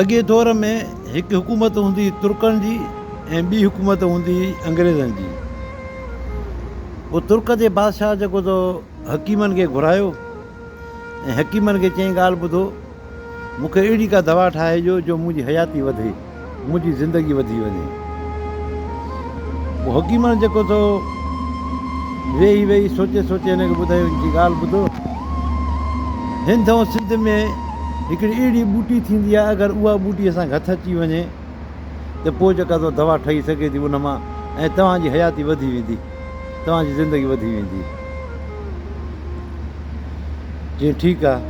اڳئين دور ۾ هڪ حڪومت هوندي هئي ترڪن جي ۽ ٻي حڪومت هوندي هئي انگريزن جي. پوء ترڪ جي بادشاهه جيڪو تو حڪيمن کي گهرايو ۽ حڪيمن کي چيائين ڳالهه ٻڌو مون کي اهڙي ڪا دوا ٺاهي ڏيو جو منهنجي حياتي وڌي. منهنجي زندگي وڌي وڃي. پوء حڪيمڻ جيڪو ٿو ويهي ويهي سوچي سوچي هن کي ٻڌايو هن چي ڳالهه ٻڌو هند ۽ سنڌ ۾ هڪڙي اهڙي ٻوٽي ٿيندي آهي اگر اها ٻوٽي اسان کي هٿ اچي وڃي ته پوء جيڪا سا دوا ٺهي سگهي ٿي ان مان ۽ توهان جي حياتي وڌي ويندي توهان جي زندگي وڌي ويندي چيائين ٺيڪ آهي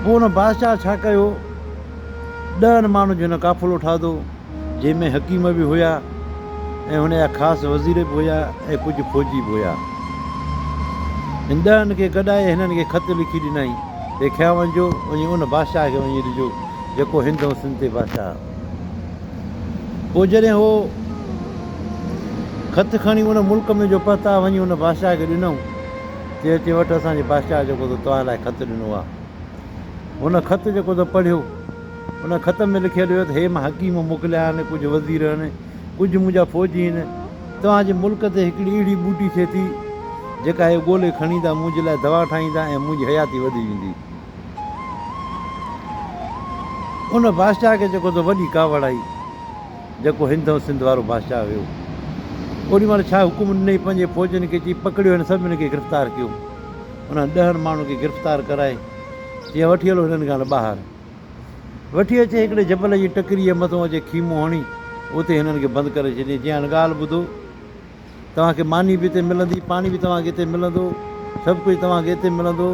پوء ان بادشاهه ڇا ڪيو ڏهن ماڻهن جو هن قافلو ٺاهدو، جنهن ۾ حڪيم به هيا ۽ هن جا خاص وزير به هيا ۽ ڪجهه فوجي به هيا. هن ڏهن کي گڏائي هنن کي خط لکي ڏنائين تي کيا وڃجو وڃي ان بادشاهه کي وڃي ڏجو، جيڪو هند ۽ سنڌ تي بادشاهه آهي. پوء جڏهن هو خط کڻي ان ملڪ ۾ جو پهتا، وڃي ان بادشاهه کي ڏنئون تي اچي وٺ اسان جي بادشاهه جيڪو تو توهان لاء خط ڏنو آهي. هن خط جيڪو تو پڙهيو، ان خط ۾ لکيل هيو ته هي مان حڪيم موڪليا آهن، ڪجهه وزير آهن، ڪجهه منهنجا فوجي آهن، توهان جي ملڪ تي هڪڙي اهڙي ٻوٽي ٿئي ٿي، جيڪا هي ڳولي کڻيندا، منهنجي لاء دوا ٺاهيندا ۽ منهنجي حياتي وڌي ويندي. ان بادشاهه کي جيڪو تو وڏي ڪاوڙ آئي، جيڪو هند ۽ سنڌ وارو بادشاهه هيو. اوڏي مهل شاهه حڪم ڏني، پنهنجي فوجين کي چئي، پڪڙيو هن سڀني کي گرفتار ڪيو. انهن ڏهن ماڻهن کي گرفتار ڪرائي چيائين، وٺي هلو هنن کان ٻاهر. وٺي اچي هڪڙي جبل جي ٽڪريء مٿو اچي خيمو هڻي اتي هنن کي بند ڪري ڇڏيائين. چيائين، هاڻي ڳالهه ٻڌو، توهان کي ماني به اتي ملندي، پاڻي به توهان کي اتي ملندو، سڀ ڪجهه توهان کي اتي ملندو.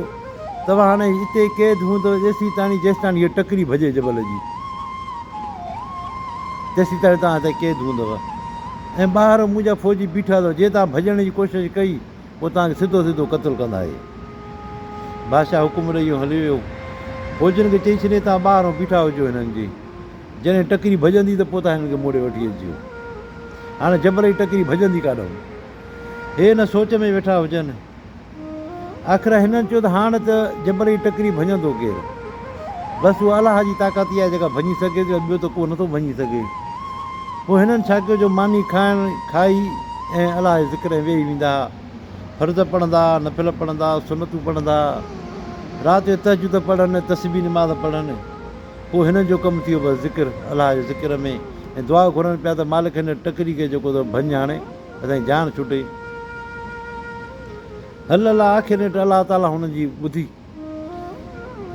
توهان هاڻي اتي ئي قيد هوندؤ ايسيتاڻي جيستاڻي هيء ٽڪري ڀڄي جبل جي، تيسيتاڻي توهان هتي قيد هوندؤ ۽ ٻاهر منهنجا فوجي بيٺا اٿو. جي توهان ڀڄڻ جي ڪوشش ڪئي. پوء توهان کي سڌو سڌو قتل ڪندائي. بادشاهه حڪم ڏئي يو هليو ويو. فوجين کي چئي ڇڏيائين توهان ٻاهران بيٺا هجو هنن جي جڏهن ٽڪري ڀڄندي ته پوء توهان هنن کي موڙي وٺي اچجو. هاڻي جبلي ٽڪري ڀڄندي ڪاڏئون. هي ان سوچ ۾ ويٺا هجن. آخر هنن چيو ته هاڻ ته جبلي ٽڪري ڀڃندو ڪير؟ بس اها الله جي طاقت ئي آهي جيڪا ڀڃي سگهي ٿي ۽ ٻيو ته ڪو نه ٿو ڀڃي سگهي. پوء هنن ڇا ڪيو جو ماني کائڻ کائي ۽ الله جي ذڪر ۾ ويهي ويندا ها. فرض پڙهندا ها، نفل پڙهندا، سنتون پڙهندا ها. رات جو تهجد پڙهن ۽ تسبيح نماز پڙهن. پوء هنن جو ڪم ٿيو بس ذڪر، الله جي ذڪر ۾، ۽ دعا گهرن پيا ته مالڪ هن ٽڪري کي جيڪو تو ڀڃ هڻي اسان جي جان ڇٽي. هل الله آخر نيٺ الله تعاليٰ هنن جي ٻڌي.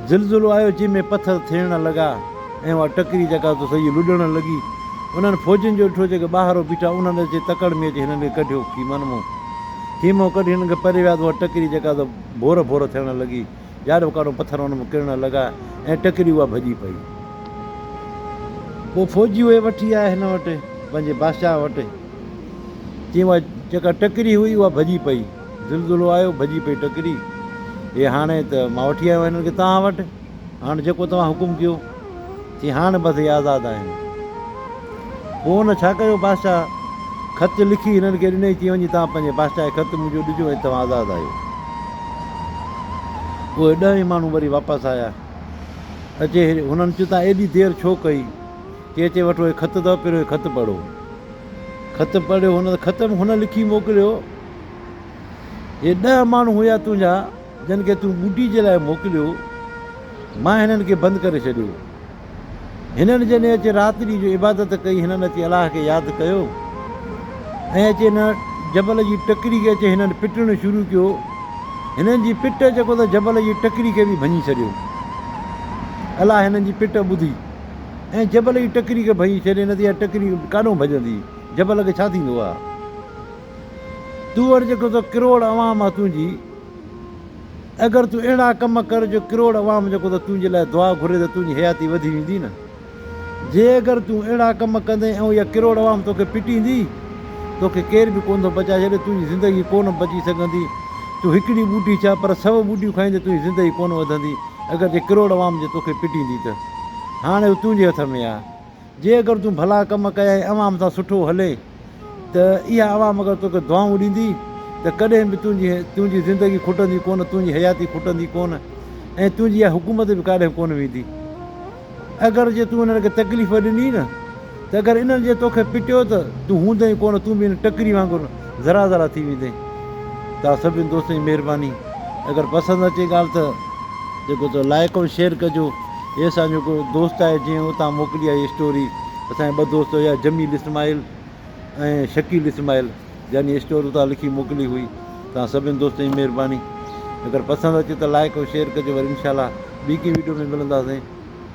زلزلو آيو جنهن ۾ پٿر ٿيڻ لڳا ۽ اها ٽڪري جيڪا تو سڄي لڏڻ لڳي. انهن فوجين جو ڏٺو جيڪي ٻاهرو بيٺا انهن اچي تڪڙ ۾ اچي هنن کي ڪڍيو خيمن مون. خيمو ڪڍي هنن کي پري ويا ته اها ٽڪري جيڪا تو ڀور ڀور ٿيڻ لڳي. جاڏوڪاڏو پٿر انهن ۾ ڪرڻ لڳا ۽ ٽڪري اها ڀڄي پئي. پوء فوجي اهي وٺي آيا هن وٽ پنهنجي بادشاهه وٽ. چيائين اها جيڪا ٽڪري هئي اها ڀڄي پئي. زلزلو آيو ڀڄي پئي ٽڪري. اي هاڻي ته مان وٺي آيو آهيان هنن کي توهان وٽ. هاڻ جيڪو توهان حڪم ڪيو. چي هاڻ بس هي آزاد آهن. پوء هن ڇا ڪيو بادشاهه خط لکي هنن کي ڏنئي چي وڃي توهان پنهنجي بادشاهه کي خط منهنجو ڏجو ۽ توهان آزاد آهيو. اهي ڏهه ئي ماڻهو وري واپس آيا. اچي هنن چيو توهان ايڏي دير ڇو ڪئي. چي اچي وٺو هي خط اٿو پهريون هي خط پڙهو. خط پڙهيو هن ته خط ۾ هن لکي موڪليو. هي ڏهه ماڻهو هيا تنهنجا، جن کي تون ٻوٽي جي لاء موڪليو، مان هنن کي بند ڪري ڇڏيو. هنن جني اچي رات ڏينهن جو عبادت ڪئي، هنن اچي الله کي ياد ڪيو ۽ اچي هن جبل جي ٽڪري کي اچي هنن پٽڻ شروع ڪيو، هنن جي پٽ جيڪو ته جبل جي ٽڪري کي به ڀڃي ڇڏيو. الله هنن جي پٽ ٻڌي ۽ جبل جي ٽڪري کي ڀڃي ڇڏي، نه ته اها ٽڪري ڪاڏنهن ڀڄندي، جبل کي ڇا ٿيندو ها؟ تون وٽ جيڪو تو ڪروڙ عوام آ تنهنجي اگر تون اهڙا ڪم ڪر جو ڪروڙ عوام جيڪو تو تنهنجي لاء دعا گهري ته تنهنجي حياتي وڌي ويندي نه جي اگر تون اهڙا ڪم ڪندين ۽ اها ڪروڙ عوام توکي پٽيندي توکي ڪير به ڪونه ٿو بچائي ڇڏي تنهنجي زندگي ڪونه بچي سگهندي تون هڪڙي ٻوٽي ڇا پر سو ٻوٽيون کائيندي تنهنجي زندگي ڪونه وڌندي اگر جي ڪروڙ عوام جي توکي پٽيندي ته هاڻي اهو تنهنجي هٿ ۾ آ. جي اگر تون ڀلا ڪم ڪئي ۽ عوام سان سٺو هلئي ته اها عوام اگر توکي دعائون ڏيندي ته ڪڏهن به تنهنجي تنهنجي زندگي کٽندي ڪونه تنهنجي حياتي کٽندي ڪونه ۽ تنهنجي اها حڪومت به ڪاڏهن ڪونه ويندي اگر جي تون انهن کي تڪليف ڏني نه ته اگر انهن جي توکي پٽيو ته تون هوندئي ڪونه تون به ان ٽڪري وانگر ذرا ذرا ٿي ويندئي توهان سڀني دوستن جي مهرباني اگر پسند اچي ڳالهه ته جيڪو تو لائق ۽ شيئر ڪجو هي اسان جو هڪ دوست آهي جنهن اتان موڪلي آهي هي اسٽوري اسان جا ٻه دوست هيا جميل اسماعيل ۽ شڪيل اسماعيل جنهن هي اسٽوري اتان لکي موڪلي هئي توهان سڀني دوستن جي مهرباني اگر پسند اچي ته لائڪ ۽ شيئر ڪجو وري انشاء الله ٻي ڪنهن ويڊيو ۾ ملنداسين.